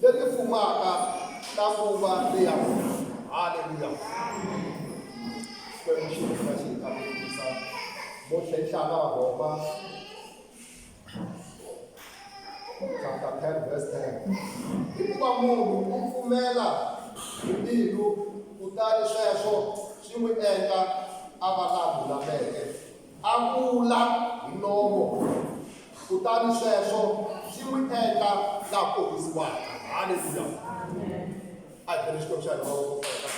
leti fumaka ta nguva leya vona haleluya xikwembu xi hina xi hi kambisisa mo tlhenhlana va rhoma chapter 10 verse 10 hikuva munhu u pfumela hi mbilu kutani sweswo swi n'wi endla a va la lulameke A vula hi nomo, kutani sweswo swi n'wi endla la ponisiwaka. Haleluya! A hi beni Xikwembu xa hina mavoko for yena.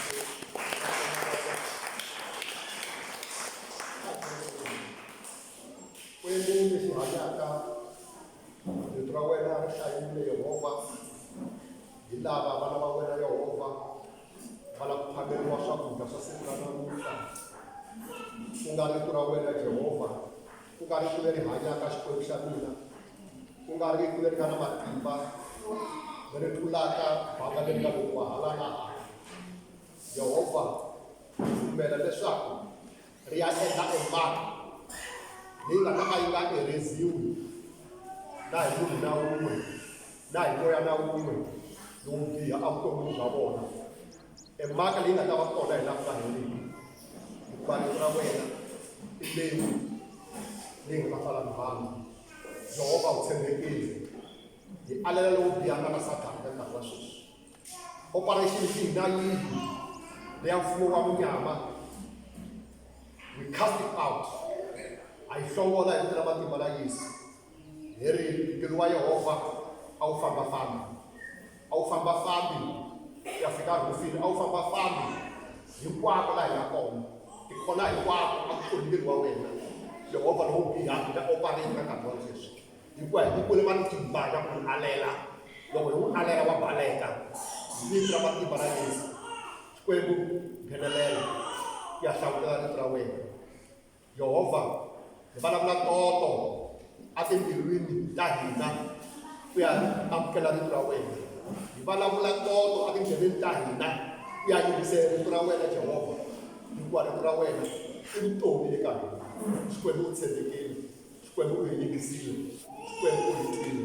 Kwembu lexi hanyaka, rito ra wena ri hlayile Yehovha, hi lava vana va wena Yehovha, Pfala ku phameriwa swakudya swa siku ra namuntlha, ku nga rito ra wena Jehovha, ku nga rito leri hanyaka Xikwembu xa mina, ku nga rito leri nga na matimba leri tlulaka banga leri nga lokuwa hala na hala. Jehovha pfumela leswaku ri ya endla emaka leyi nga ta ka yi nga ereziwi na hi munhu na wun'we na hi moya na wun'we lowo biha evuton'wini bya vona e mhaka leyi nga ta va kona hi laha ku nga heriki hikuva rito ra wena i leyi leyi nga ta fana na vanhu jehovha u tshembekile hi alela lowo biha nga na sathana ka nkarhi wa sweswi operation xihi na yihi leya mfumo wa munyama we cast it out a yi hlongola hi vito ra matimba la yesu hi ri ntirho wa yehovha a wu fambafambi a wu fambafambi ku ya fika rhufini a wu fambafambi hinkwako laha hi nga kona tikhona hinkwako a ku ri ntirho wa wena yehovha lowu bihaka ta opareni ka nkarhi wa sweswi hikuva hi nyikule matimba ya ku n'wi alela loko hi n'wi alela wa baleka vito ra matimba ra yesu xikwembu nghenelela ku ya hlawulela rito ra wena Yehovha, hi vulavula toto etimbilwini ta hina ku ya amukela rito ra wena hi vulavula toto etindleveni ta hina ku ya yingisela rito ra wena Jehovha hikuva rito ra wena i vutomi eka hina xikwembu u tshembekile xikwembu u hi yingisile xikwembu u hi twile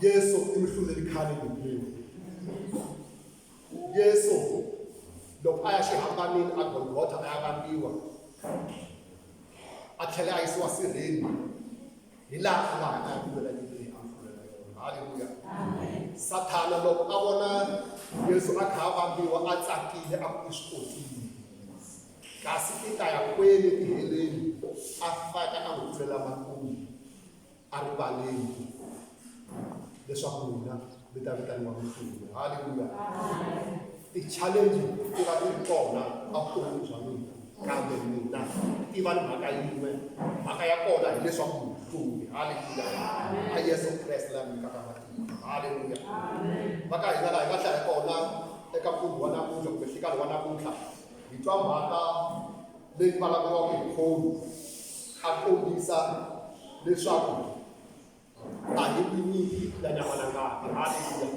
Yesu i muhluleli khale Bibeleni. Yesu loko a ya xihambanini a Golgotha a ya vambiwa a tlhela a yisiwa sirheni hi laha a nga hanya hi lwela yini leyi a mfulela yona halleluya sathana loko a vona yesu a kha a vambiwa a tsakile a ku swikotsile kasi i ta ya kwele tiheleni a faka a n'wi pfulela makumu a rivaleki leswaku n'wina mi ta vitaniwa mfumo halleluya ti-challenge ti va ti ri kona a vutomi bya n'wina kambe n'wina ti va ni mhaka yin'we mhaka ya kona hileswaku mfumo halleluya a yesu kreste la mi nyikaka matimba halleluya va ka hina laha hi nga hlaya kona eka mfumo wa namuntlha kumbe nhlikani wa namuntlha hi twa mhaka leyi vulavuriwaka hi khoni a kombisa leswaku a hi tinyiki ya nyama na ngati haleluya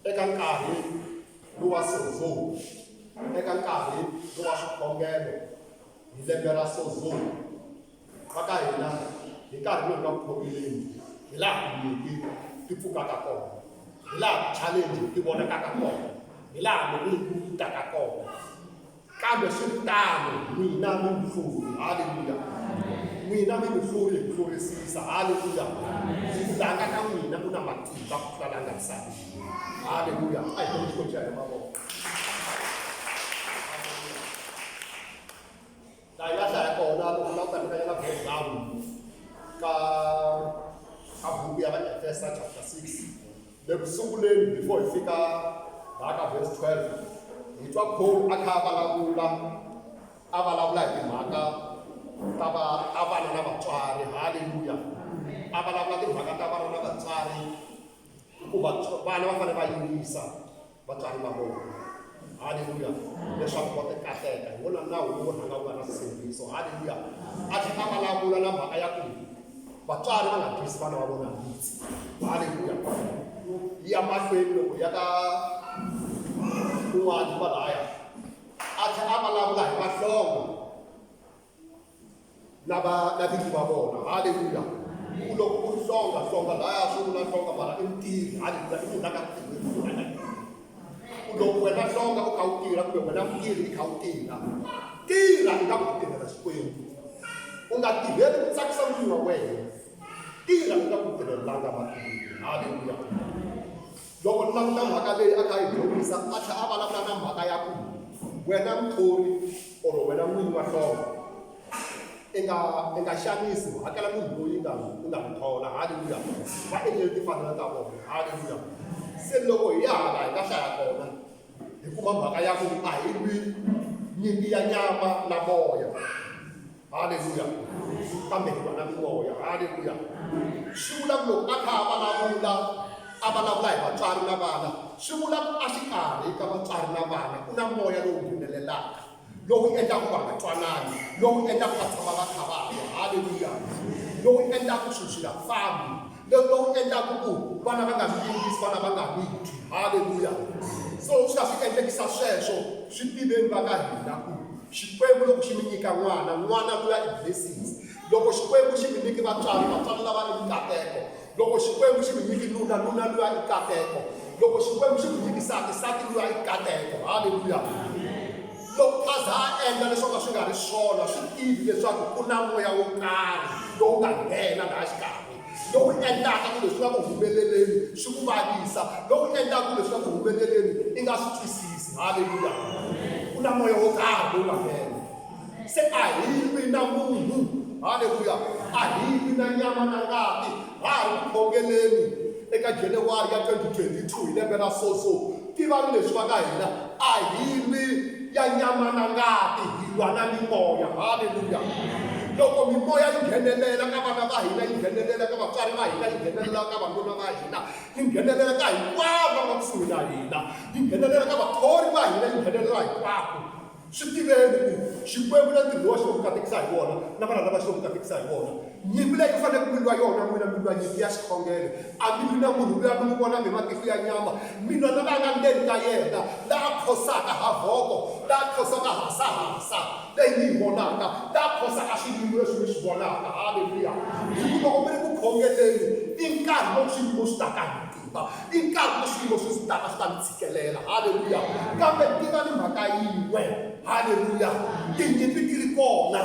eka nkarhi lowa sozo eka nkarhi lowa swikhongelo hi lembe ra sozo va ka hina hi nkarhi lowu nga ku khomeleni hi laha tinyiki ti pfukaka kona hi laha ti-challenge ti vonakaka kona hi laha loko yi kutaka kona Kambe swi ri tano, n'wina mi n'wi hluri. Haleluya! N'wina mi n'wi hluri hi ku hlurisisa. Haleluya! Vulanga ka n'wina ku na matimba ku tlula langa misaveni. Haleluya! A hi tele xikolo xa hina mavoko. laha yi nga hlaya kona loko nga ta nyika yena breakdown ka ka buku ya vaefesa chapter 6 Le ku sunguleni before hi fika laha ka verse 12, hi twa Paul a kha a vulavula a vulavula hi timhaka ta va ta vana na vatswari. Haleluya! A vulavula timhaka ta vana na vatswari hikuva vana va fanele va yingisa vatswari va vona. Haleluya! Leswaku va ta kahleka. Hi wona nawu lowu rhanga wu nga na swisindziso. Haleluya! A tlhela a vulavula na mhaka ya ku vatswari va nga twisi vana va vona handzi. Haleluya! Yi ya mahlweni loko hi ya ka kun'wana kwalahaya, a tlhela a vulavula hi mahlonga. na va na vinyi va vona haleluya ku loko ku ri hlonga hlonga laya swi vula hlonga mara i mutirhi haleluya i munhu la ka ku loko wena hlonga u kha u tirha kumbe wena mutirhi i kha u tirha tirha i nga ku tirhela xikwembu u nga tirheli ku tsakisa n'wini wa wena tirha u nga ku tirhelanga matirhi haleluya Loko ni languta mhaka leyi a kha yi horisa a tlhela a vulavula na mhaka ya ku wena muthori or wena n'wini wa hlonga i nga i nga xanisi u hakela munhu loyi nga u nga n'wi thola haleluya va endlele timfanelo ta vona haleluya se loko hi ya hala hi nga hlaya kona hi kuma mhaka ya ku a hi lwi nyimpi ya nyama na moya haleluya kambe hi vana mimoya haleluya swi vula ku loko a kha a vulavula a vulavula hi vatswari na vana swi vula ku a xikarhi ka vatswari na vana ku na moya lowu nghenelelaka lowu endlaka va nga twanani lowu endlaka va tshama va kha va hanya haleluya lowu endlaka swilo swi nga fambi lowu va wu endlaka ku vana va nga swi yingisi vana va nga n'wi twi halleluya so swi nga swi endlekisa sweswo swi tiveni va ka hina ku xikwembu loko xi mi nyika n'wana n'wana luya i blessings loko xikwembu xi mi nyiki vatswari vatswari lava i mikateko loko xikwembu xi mi nyiki nuna nuna luya i kateko loko xikwembu xi mi nyiki sati sati luya i kateko halleluya Loko Gaza a endla leswo ka swi nga ri swona, swi tivi leswaku ku na moya wo karhi lowu nga nghena laha xikarhi, lowu endlaka ku leswi nga ku humeleleni swi ku vavisa, lowu endlaka ku leswi nga ku humeleleni i nga swi twisisi. Haleluya! Ku na moya wo karhi lowu nga nghena. Se a hi lwi na munhu. Haleluya! A hi lwi na nyama na ngati. Ha ha ri ku khongeleni eka January ya 2022 hi lembe ra so so, tivani leswi va ka hina a hi lwi ya nyama na ngati, hi lwa na mimoya. Haleluya! Loko mimoya yi nghenelela ka vana va hina, yi nghenelela ka vatswari va hina, yi nghenelela ka vanuna va hina, yi nghenelela ka hinkwavo lava nga kusuhi na hina, yi nghenelela ka vathori va hina, yi nghenelela hinkwako. Swi tiveni ku Xikwembu na ntirho lowa xi lo ku katekisa hi wona na vana lava xi lo ku katekisa hi wona. Nyimpi leyi ku fanele ku lwiwa yona, n'wina mi lwa nyimpi ya xikhongelo. A mi lwi na munhu luya mi n'wi vonaka hi matihlo ya nyama, mi lwa na la nga ndzeni ka yena, la a khosaka ha voko, la a khosaka ha hasahasa leyi mi yi vonaka, la a khosaka swiyimo leswi mi swi vonaka. Haleluya! Hi ku loko mi ri ku khongeleni i nkarhi lowu swiyimo swi taka hi. Hikuva i nkarhi leswi swiyimo swi ndzi taka swi ta ndzi tshikelela. Haleluya! Kambe tiva ni mhaka yin'we. Haleluya! Tinyimpi ti ri kona,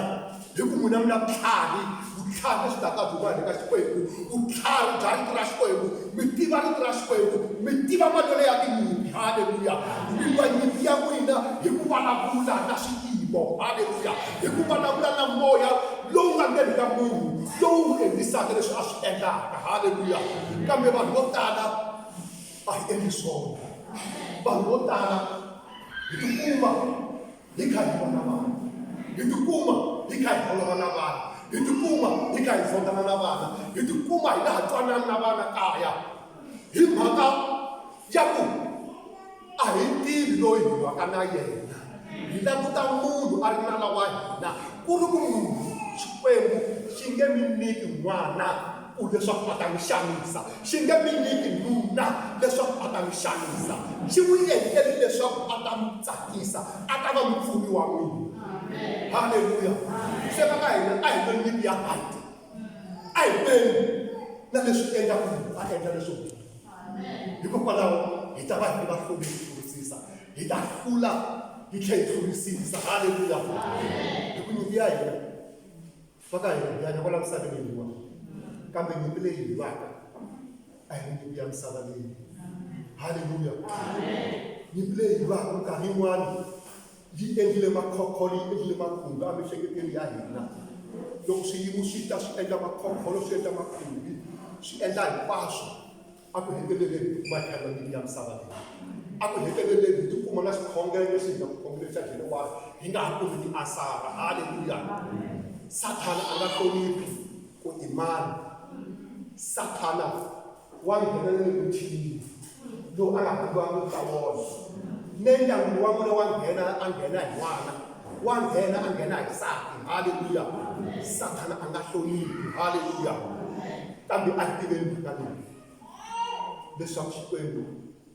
hi ku n'wina mi na vutlhari, vutlhari lebyi taka byi huma le ka Xikwembu, vutlhari bya Rito ra Xikwembu. Mi tiva Rito ra Xikwembu, mi tiva malwelo ya tinyimpi. Haleluya! Mi lwa nyimpi ya n'wina hi ku vulavula na swiyimo. Haleluya! Hi ku vulavula na moya lowu nga ndzeni ka munhu, lowu n'wi endlisaka leswi a swi endlaka. Haleluya. Kambe vanhu vo tala a hi endli swona. Vanhu vo tala hi tikuma hi kha hi vona vanhu, hi tikuma hi kha hi holova na vanhu, hi tikuma hi kha hi zondana na vana, hi tikuma hi nga ha twanani na vana kaya hi mhaka Ya ku, A hi tivi loyi hi waka na yena, hi languta munhu a ri nala wa hina, ku ri ku munhu, Xikwembu, xi nge mi nyiki n'wana ku leswaku a ta mi xanisa, xi nge mi nyiki nuna leswaku a ta mi xanisa, xi n'wi endlele leswaku a ta mi tsakisa, a ta va mupfuni wa n'wina. Haleluya! Se va ka hina a hi ve nyimpi ya right, a hi lweni na leswi endlaka ku munhu a endla leswo biha. hikokwalaho hi ta va hi ri vahlori hi hlurisisa hi ta hlula hi tlhela hi hlurisisa haleluya hi ku nyimpi ya hina va ka hina hi hanya kwala misaveni hiwa kambe nyimpi leyi hi lwaka a hi nyimpi ya misava leyi haleluya nyimpi leyi hi lwaka minkarhi yin'wana yi endlile makhokholo yi endlile makhumbi emihleketweni ya hina loko swiyimo swi ta swi endla makhokholo swi endla makhumbi swi endla hinkwaswo a ku heteleleni hi kuma economic ya misava leyi a ku heteleleni hi tikuma na xikhongelo lexi hi nga ku khongelo xa jehovah hi nga ha kumi ti asara halleluya sathana a nga hloniphi ku i mani sathana wa nghena ni le muthinini lowu a nga vambiwangiki ka wona ne ndyangu wa n'wina wa nghena a nghena hi n'wana wa nghena a nghena hi nsati halleluya sathana a nga hloniphi halleluya kambe a tiveni mhaka leyi leswaku xikwembu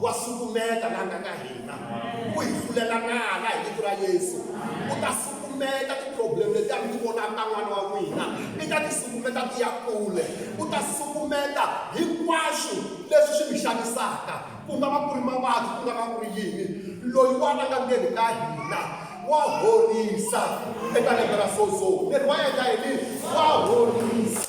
wa sukumeta la nga ka hina ku hi hlulela nala hi vito ra yesu u ta sukumeta ti-problem leti a mi ti vonaka ta n'wana wa n'wina i ta ti sukumeta ti ya kule u ta sukumeta hinkwaswo leswi swi mi xanisaka ku nga va ku ri mavabyi ku nga va ku ri yini loyi wa a nga ndzeni ka hina wa horisa eka lembe ra sozo mirhi wa endla yini wa horisa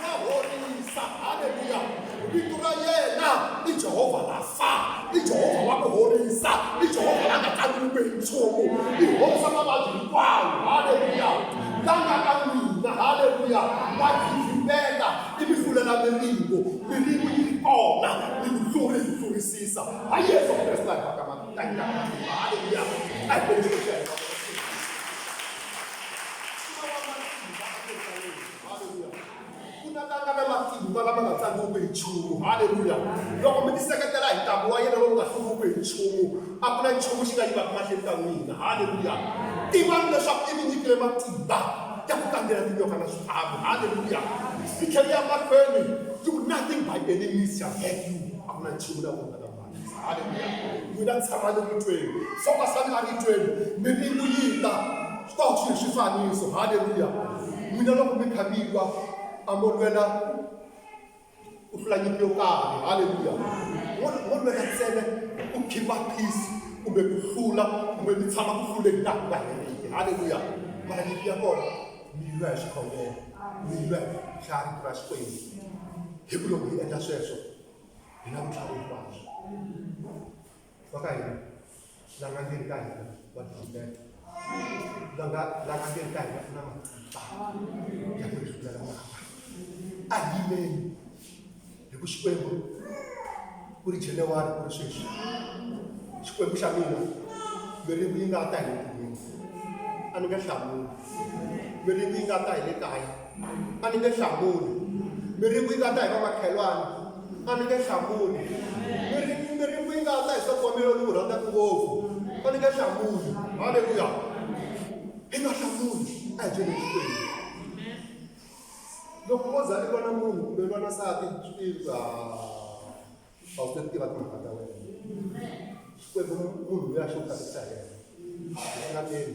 ra horisa haleluya vito ra yena i jehovha rafa i jehovha wa ku horisa i jehovha la nga kaliwike hi nchumu i horisa mavabyi hinkwawo haleluya la nga ka mina haleluya wa givimbeta i mi fulela miringo miringo yi ri kona ni ku hluri hi hlurisisa ha yesu kreste la haka matanga haleluya a hi Haleluya. Ku ta tanga na matimba lama nga tsangiwiki hi nchumu. Haleluya. Loko mi tiseketela hi ntambu wa yena lowu nga hluriwiki hi nchumu, a ku na nchumu xi nga yivaka mahlweni ka n'wina. Haleluya. Tivani leswaku i mi nyikile matimba ya ku tlangela tinyoka na swiharhi. Haleluya. Yi tlhela yi ya mahlweni yi ku nothing by any means shall hurt you. A ku na nchumu na wun'we. mina tshama ni mutweni swo ka swa nga ni tweni mi ni ku yita swi ta swi hi swifaniso halleluya mina loko mi kha mi lwa a mo lwela u hlula nyimpi yo karhi halleluya mo mo lwela ntsena ku khipa peace kumbe ku hlula kumbe mi tshama ku hluleni laha ku nga heriki halleluya mara nyimpi ya kona mi lwa hi xikhongelo mi lwa hlaya rito ra xikwembu hi ku loko hi endla sweswo hi na vutlhari hinkwabyo va ka hina langangeni ka hina va tibeta langa langangeni ka hina ku na matimba ya ku rifulela mava a yimeni hi ku xikwembu ku ri januwari ku ri sweswi xikwembu xa mina miringu yi nga ta hi le kun'wini a ni nge hlamuli miringu yi nga ta hi le kaya a ni nge hlamuli mi ri ku yi nga ta hi va makhelwani a ni nge hlamuli mi ri mi ri ku yi nga ta hi swa kombelo ni n'wi rhandzaka ngopfu a ni nge hlamuli halleluya hi nga hlamuli a hi byele xikwembu loko ko za i lwana munhu kumbe i lwana sati swilo a wu ti tiva timhaka ta wena xikwembu munhu loyi a xi u katekisa hi yena a nga teni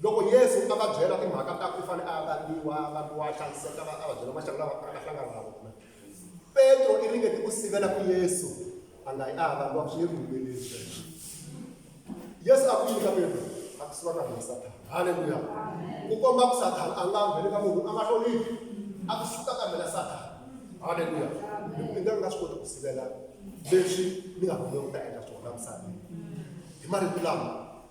Loko Yesu a va byela timhaka ta ku u fanele a ya vangiwa, a vangiwa, a xaniseka, a va byela maxangu lawa a nga ta hlangana na wona, Petro i ringete ku sivela ku Yesu a nga yi a ya vangiwa ku swi nge ku humeleli sweswo. Yesu a ku yini ka Petro? A ku suka ka mina Sathana. Haleluya! Ku komba ku Sathana a nga ngheni ka munhu a nga hloniphi. A ku suka ka mina Sathana. Haleluya! Hi ku i nga nga swi koti ku sivela leswi ni nga fanele ku ta endla swona misaveni. Hi marito lama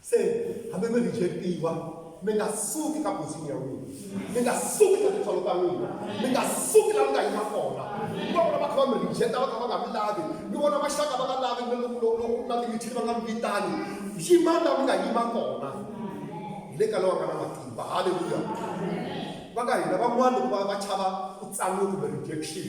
se hambi mi rejectiwa mi nga suki ka position ya n'wina mi nga suki ka tintswalo ta n'wina mi nga suki la mi nga yima kona mi va vona va kha va mi rejecta va kha va nga mi lavi mi vona maxaka va nga lavi mi loko na timithini va nga mi vitani yimani la mi nga yima kona hi le ka lowa nga na matimba halleluya va ka hina van'wana loko va va chava ku tsaniwa kumbe rejection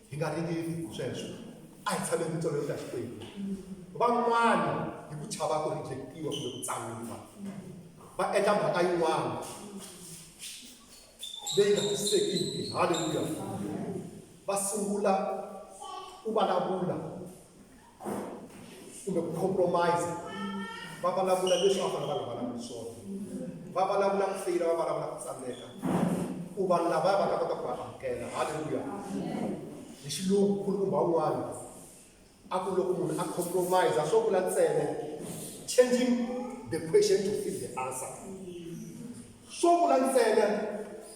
hi nga ringeti hi sweswo a hi tshameni mitsolo yi ta xikwembu van'wana hi ku chava ku rejectiwa kumbe ku tsangiwa va endla mhaka yin'wana leyi nga tisisekiki halleluya va sungula ku vulavula kumbe ku compromise va vulavula leswi a fanele va vulavula swona va vulavula ku feyila va vulavula ku tsandzeka ku vanhu lavaya va ta kota ku va amukela halleluya hi xilungu khulumba un'wana a ku loko munhu a compromise a swo vula ntsene changing the question to fit the answer swo vula ntsene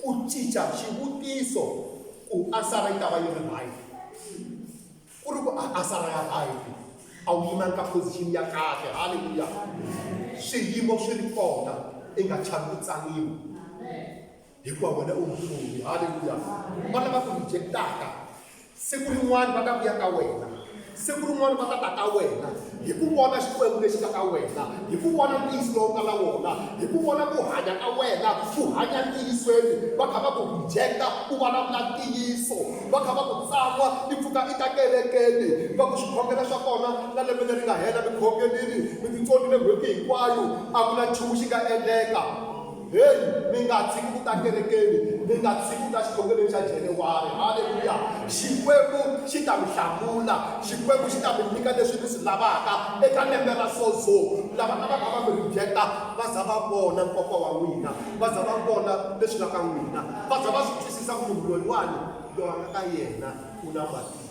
ku cinca xivutiso ku ansara yi ta va yi ri right Ku ri ku a a sala ya hayini, a wu yimanga ka position ya kahle. Haleluya! Swiyimo swi ri kona, i nga chavi ku tsaniwa. Hikuva wena u mufumi. Haleluya! Va lava ku reject-aka, siku rin'wana va ta vuya ka wena, siku rin'wana va ta ta ka wena. hi ku vona Xikwembu lexi nga ka wena, hi ku vona ntiyiso lowu nga na wona, hi ku vona ku hanya ka wena u hanya ntiyisweni, va kha va ku rhijekta u vulavula ntiyiso, va kha va ku tsan'wa i pfuka i ta kerekeni, va ku swikhongelo swa kona na lembe leri nga hela mi khongelini mi titsonile n'hweti hinkwayo, a ku na nchumu xi nga endleka. Heyi, mi nga tshiki ku ta kerekeni, mi nga tshiki ku ta xikhongelweni xa January. Haleluya! Xikwembu xi ta mi hlamula. Xikwembu xi ta mi nyika leswi mi swi lavaka eka lembe ra Sozo. Lava a va kha va mi rijekta va za va vona nkoka wa n'wina, va za va vona leswi nga ka n'wina, va za va swi twisisa ku munhu loyiwani, loyi a nga ka yena u na matimba.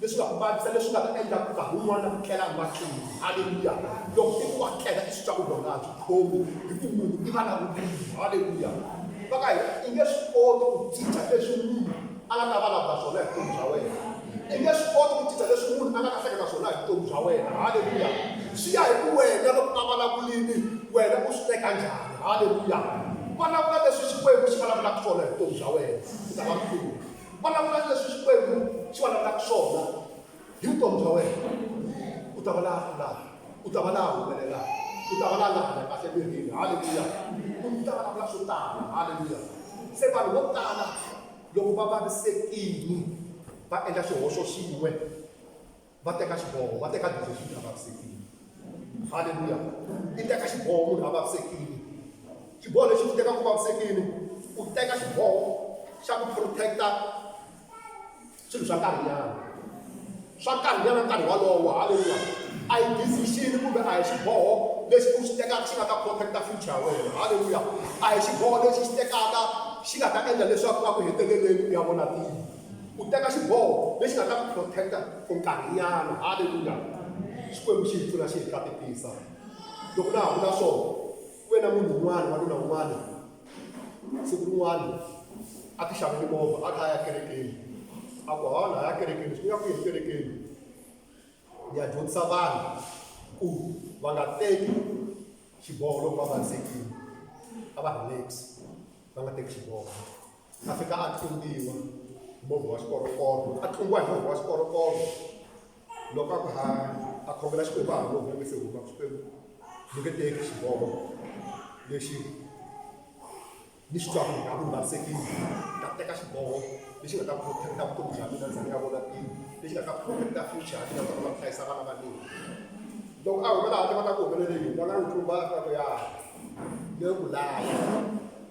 leswi nga ku vavisa leswi nga ta endla ku nkarhi wun'wana ku tlela emahlweni halleluya loko i ku wa tlela i swi twa ku loko nga byi khomi hi ku munhu i va na vutivi halleluya va ka hina i nge swi koti ku cinca leswi munhu a nga ta vulavula swona hi vutomi bya wena i nge swi koti ku cinca leswi munhu a nga ta hleketa swona hi vutomi bya wena halleluya swi ya hi ku wena loko a vulavulini wena u swi teka njhani halleluya vulavula leswi xikwembu xi vulavulaka swona hi vutomi bya wena u ta va mfumo Vulavula ni leswi Xikwembu xi vulavulaka swona hi vutomi bya wena. U ta va la hlulaka. U ta va la humelelaka. U ta va la nga hanya kahle emirini. Haleluya! U ta vulavula swo tala. Haleluya! Se vanhu vo tala loko va vavisekile va endla xihoxo xin'we va teka xiboho va teka decision a vavisekile halleluya i teka xiboho munhu a vavisekile xiboho lexi xi tekaku vavisekile u teka xiboho xa ku protecta swilo swa nkarhinyana swa nkarhinyana nkarhi walowo halleluya a yi decision kumbe a hi xiboho lexi u xi tekaka xi nga ta protecta future ya wena halleluya a hi xiboho lexi xi tekaka xi nga ta endla leswaku a ku heteleleni u ya vona tilo U teka xiboho lexi nga ta ku protect-a for nkarhinyana. Haleluya! Xikwembu xi hi pfuna xi hi katekisa. Loko na ha vula swona, ku ve na munhu un'wana, wanuna un'wana, siku rin'wana a ti xavele movha, a kha a ya kerekeni. A ku, hawa na ha ya kerekeni. Swi ni ya ku yini kerekeni? Ni ya dyondzisa vanhu ku va nga teki xiboho loko va vavisekile. A va relax-i, va nga teki xiboho. a fika a tlumbiwa hi movha wa xikorokoro a tlumbiwa hi movha wa xikorokoro loko a ku ha a khongela xikwembu a ha movha nge se huma xikwembu ni nge teki xiboho lexi ni xi twaku nga ku vavisekile ta teka xiboho lexi nga ta protecta vutomi bya mina ndza ni nga vona pini lexi nga ta protecta future ya mina ta kona ku hlayisa vana va mina loko a humela handle va ta ku humelele yini va nga n'wi tlumba a ta ku ya le ku laya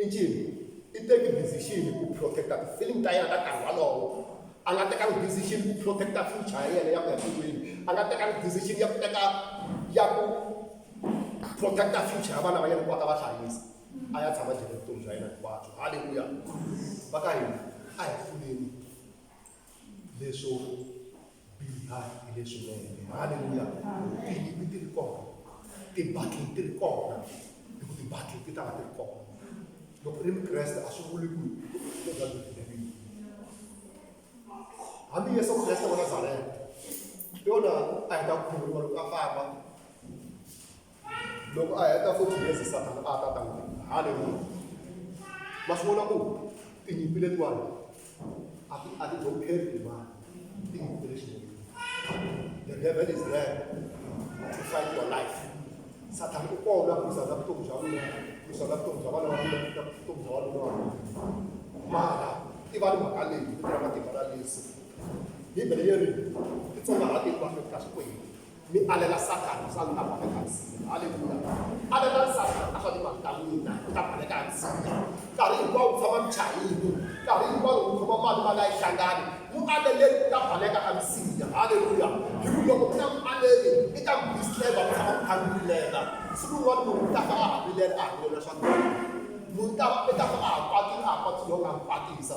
I ncini? I teki decision ku protect-a ti-feeling ta yena ta nkarhi wolowo. A nga tekanga decision ku protect-a future ya yena ya ku ya tilweni, a nga tekanga decision ya ku teka ya ku protect-a future ya vana va yena ku va ta va hlayisa, a ya tshama jele vutomi bya yena hinkwabyo. Haleluya! Va ka hina a hi pfuleni. leswo biha hi leswinene halleluya tinyimi ti ri kona tibattle ti ri kona hi ku tibattle ti ta va ti ri kona loko ri mukreste a swi vuli ku ko ka tivinavini hambi yesu kreste wa nazareta yona a hi ta khumuriwa loko a famba Loko a heta futhi Yesu Sathana a ta ta n'wi endla. Haleluya! Ma swi vona ku tinyimpi letiwani a ti a ti dzonkheri timali tinyimpi ta le ximun'wini. The devil is there to fight your life. Sathana u kona ku lwisana vutomi bya wena, ku lwisana vutomi bya vana va wena, ku lwisana vutomi bya wanuna wa wena. Mara tivani mhaka leyi, vito ra matimba ra Yesu. Bibele yi ri, Titsongahati hinkwaswo eka Xikwembu. mi alela sathana swa ni ta baleka msinya halleluya alelani sathana a swa ni vanhu ta n'wina u ta baleka msinya nkarhi hinkwawo ku tshama muchayini nkarhi hinkwawo ku khoma mali mali a yi hlangani mu aleleni u ta baleka a msinya halleluya hi ku loko ku na mu aleli i ta mi distreba ku tshama ku kha mi vilela siku rin'wana munhu u ta fa a ha vilela a ha vilela swa munhu ta i ta fa a ha kwatile a ha kwatile yo nga mi kwatisa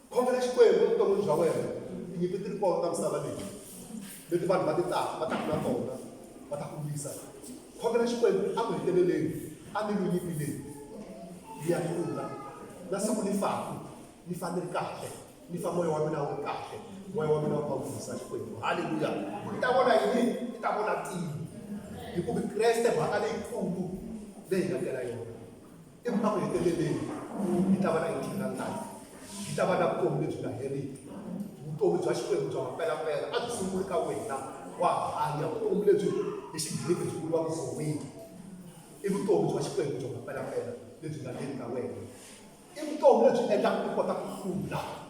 khomela xikwembu evuton'wini bya wena tinyimpi ti ri kona ta misava leyi leti vanhu va ti taka va taka na tona va ta ku lwisa khomela xikwembu a ku heteleleni a mi lwi nyimpi leyi yi ya hlula na siku ni faku ni fa ni ri kahle ni fa moya wa mina wu ri kahle moya wa mina wu va wisa xikwembu halleluya ku i ta vona yini i ta vona tilo hikuva kreste mhaka leyikulu leyi nga tela yona Ivi a ku heteleleni, yi ta va na eternal life, yi ta va na vutomi lebyi nga heriki, vutomi bya Xikwembu bya mampelampela. A byi sunguli ka wena, wa hanya, vutomi lebyi hi Xigriki byi vuriwaka zoe. I vutomi bya Xikwembu bya mampelampela lebyi nga le ka wena. I vutomi lebyi endlaka u kota ku hlula.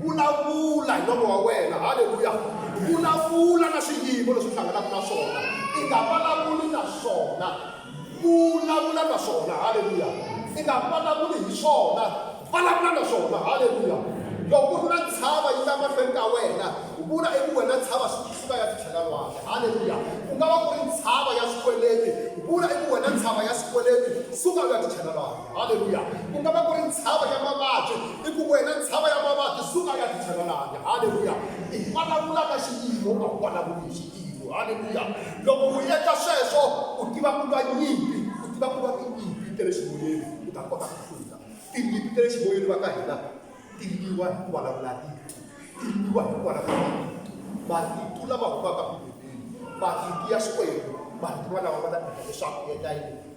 Vulavula hi nomo wa wena. Haleluya! Vulavula na swiyimo leswi u hlanganaka na swona. I nga vulavuli na swona. Vulavula na swona. Haleluya! I nga vulavuli hi swona. Vulavula na swona. Haleluya! Loko ku ri na ntshava yi ta mahlweni ka wena, vula eku wena ntshava suka ya titlhela lwandle. Haleluya! Ku nga va ku ri ntshava ya swikweleti, vula eku wena ntshava ya swikweleti suka u ya titlhela lwandle. Haleluya! Ku nga va ku ri ntshava ya mavabyi. I ku wena ntshava ya mavabyi, suka ya titshega lani. Haleluya! I vulavula ka xiyimo, a wu vulavuli hi xiyimo. Haleluya! Loko u endla sweswo, u tiva ku lwa nyimpi, u tiva ku lwa tinyimpi ta le ximoyeni, u ta kota ku hlula. Tinyimpi ta le ximoyeni va ka hina, ti lwiwa hi ku vulavula rito, ti lwiwa hi ku vulavula marito. Marito lama humaka Bibeleni, marito ya Xikwembu, marito walawa ma ta endla leswaku u endla yini?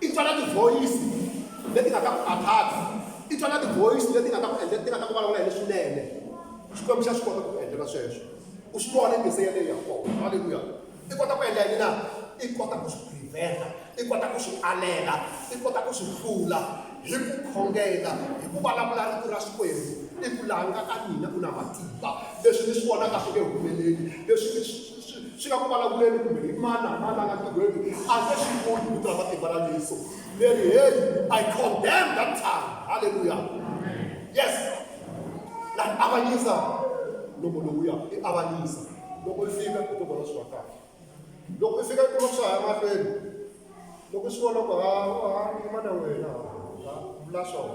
I twa na tivhoyisi leti nga ta ku khathaza. I twa na tivhoyisi leti nga ta ku endla, ti nga ta ku vulavula hi leswinene. Xikwembu xa swi kota ku ku endlela sweswo. U swi vona yi ze yaleyo ya kona. Haleluya! I kota ku endla yini na? I kota ku swi prevent-a. I kota ku swi alela. I kota ku swi hlula hi ku khongela, hi ku vulavula Rito ra Xikwembu. I ku, laha nga ka mina ku na matimba. Leswi ni swi vonaka swi nge humeleli, leswi ni swi. Swi, swi nga ku vulavuleni kumbe hi mani na mani la nga tirhweni a nge swi koti vito ra matimba ra yesu leri heyi i condemn that time halleluya yes na avanyisa loko lowuya i avanyisa loko i fika i to vona swi va kahle loko i fika i kuma swa ha ya mahlweni loko i swi vona ku ha ha yima na wena ha ha vula swona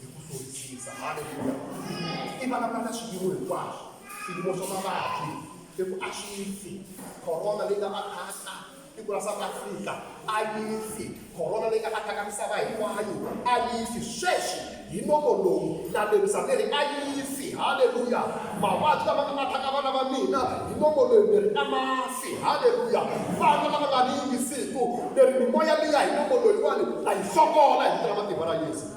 hi ku hluvukisa haleluya i vulavula na swiyimo hinkwaswo swiyimo swa mavabyi i ku a swi fi corona leyi nga va khasa tiko ra south africa a yi fi corona leyi nga va khaka misava hinkwayo a yi fi sweswi hi nomo lowu na lerisa ni ri a yi fi haleluya mavabyi lama nga va khaka vana va mina hi nomo loyi ni ri a ma fi haleluya vana lava nga ni yingisiku ni ri mimoya liya hi nomo loyiwani a yi sokola hi vito ra matimba ra yesu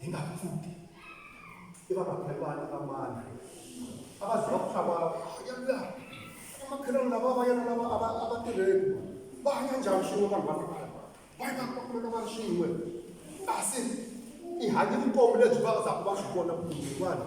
hi nga pfuki i va makhelwani va mani a va za va ku hlava yala vamakhelwani lava va yena lava a va a va tirheni va hanya njhani swin'we vanhu va hlangana va yena va kumeka va ri swin'we kasi i hanye vutomi lebyi va zaku va swi vona ku vanhu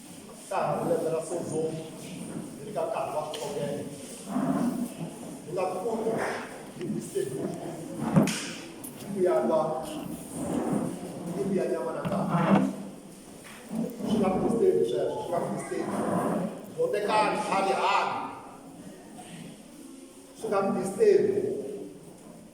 Ka ha ri lembe ra Sozomu hi ri ka nkarhi wa ntshovelo. Hi nga kumi Bibisebulu hi ku ya lwa ni ku ya nyama na nkarhi. Swi nga Bibisebulu sweswo, swi nga Bibisebulu. Bondekani, hali hali. Swi nga Bibisebulu.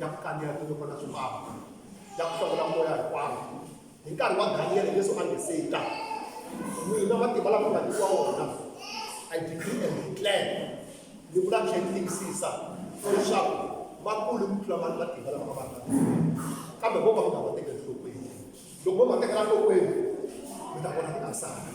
ya ku kandziya tinyoka ta swimbalo ya ku hlawula moya hinkwawo hi nkarhi wa daniyele yesu a nge se ta mina matimba lama nga nyikiwa wona i degree and declare ni vula tlhe ni tiyisisa leswaku va kule ku tlula vanhu matimba lama va vanga kambe vo ka mi nga va tekeli nhlokweni loko vo va tekela nhlokweni mi ta vona ti nga sali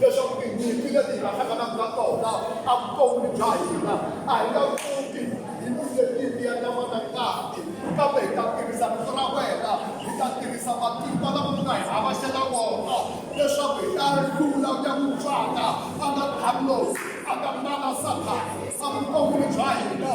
leswaku tinyimpi leti hi nga hlanganaka na tona a vutomi bya hina a hi nga pfuki hi vise nyimpi ya nyama na ngati kambe hi ta tirhisa rito ra wena hi ta tirhisa matimba lama u nga hi avashela wona leswaku hi ta hlula ku ya ku tswaka a nga hamlosi a nga nala sathana sa vutomi bya hina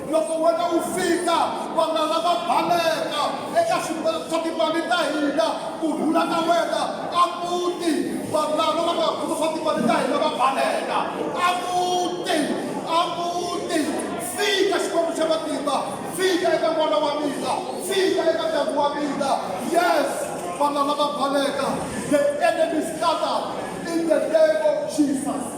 Loko wena wu fika, vana lava baleka eka swimbeleko swa timali ta hina ku rhula na wena a muti. Vanhu lava va nga khoma swa timali ta hina va baleka a muti, a muti. Fika Xikwembu xa matimba, fika eka n'wana wa mina, fika eka ndyangu wa mina. Yes, vana lava baleka, the enemy scatter in the name of Jesus.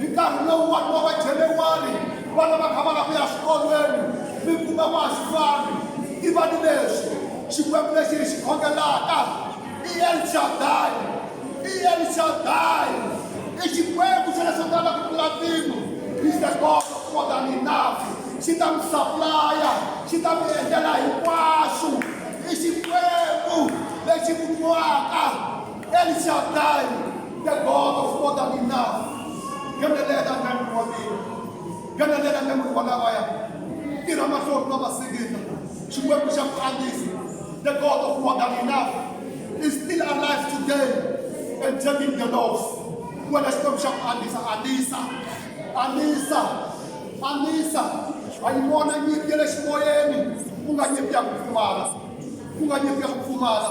hi nkarhi lowu vanhu va vajenewari vana va kha va la ku ya swikolweni mi kuma vaxivani i va ni leswi xikwembu lexi hi xi khongelaka i elshadai i elshadai i xikwembu xa leswi nga na ku tlula mpimo is the god of more than enough xi ta mi saplaya xi ta mi endlela hinkwaswo i xikwembu lexi ku nwaka El Shaddai, the God of more than enough. Nghenelela ndyangu wa mina. Nghenelela ndyangu wa lavaya. Tirha mahlori ma vasikita. Xikwembu xa ku andzisa. The God of more than enough is still alive today and taking the loss. Wena Xikwembu xa ku andzisa, andzisa. Andzisa. Andzisa. Ha yi vona nyimpi ya le ximoyeni. Ku nga nyimpi ya ku pfumala. Ku nga nyimpi ya ku pfumala.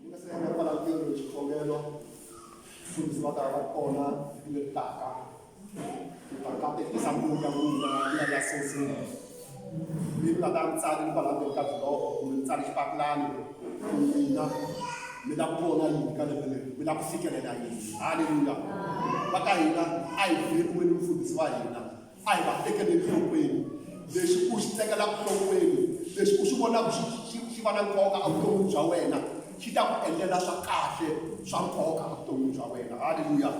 Ni nga se heta kwala ntirho hi xikhongelo mfundhisi va ta va ri kona vhiki leri taka ni ta katekisa mbuku ya n'wina ya ya sosini ni nga ta ri tsali kwala ndzeni ka biloho kumbe ni tsali xipapulani ku n'wina mi lava ku vona yini ka lembe leri mi lava ku fikelela yini halleluya va ka hina a hi vheriweni mfundhisi wa hina A hi va tekeleni nhlokweni. Lexi u xi tekelaka nhlokweni, lexi u xi vonaka xi xi xi va na nkoka evuton'wini bya wena, xi ta ku endlela swa kahle swa nkoka evuton'wini bya wena. Haleluya!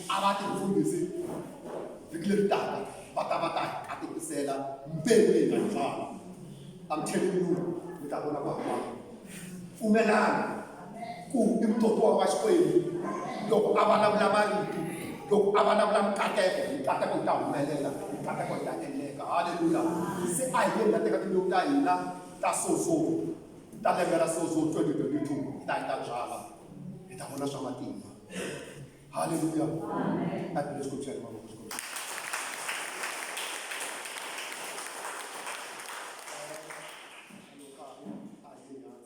A va tifundhisi vhiki leri taka va ta va ta hi katekisela mbewu leyi nga hi byala. I'm telling you, mi ta vona ku hambana. Pfumelana. Ku i mutokiwa wa Xikwembu loko a vulavula marito, loko a vulavula mikateko, mikateko yi ta humelela, mikateko yi ta endleka. Haleluya! Se a hi yeni hi ya teka timbewu ta hina ta sozo ta lembe ra sozo 2022 hi ta hi ta byala, hi ta vona swa matimba. Haleluya! A Bibele swi kombisa mavoko swi kombisa.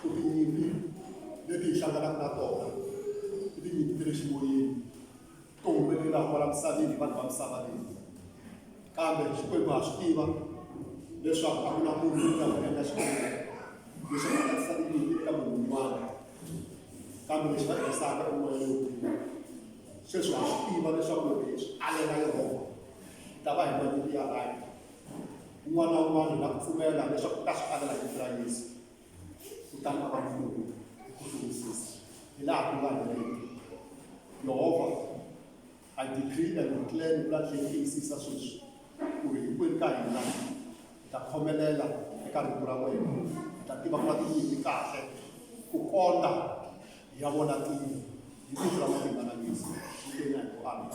ku tinyimpi leti hi hlanganaka na tona i tinyimpi ta le ximoyeni to humelelaka kwala misaveni hi vanhu va misava leyi kambe xikwembu ha swi tiva leswaku a ku na munhu loyi a nga endla xikwembu lexi nga katsisa tinyimpi eka munhu un'wana kambe lexi va tirhisaka i moya lowu sweswi ha swi tiva leswaku loko hi swi alela yehova hi ta va hi na nyimpi ya rhandi Un'wana na un'wana hi nga pfumela leswaku ka swi avela hi ra Yesu kutani a va mfumo hi ku hluvisisa hi laha ku nga heriki Yehova a decree and declare ni vula tlhela tiyisisa sweswi ku ri hinkwenu ka hina hi ta khomelela eka rito ra wena hi ta tiva ku va tiyini kahle ku kondza hi ya vona tiyini hi vito ra matimba na Yesu hi tena hi ku amina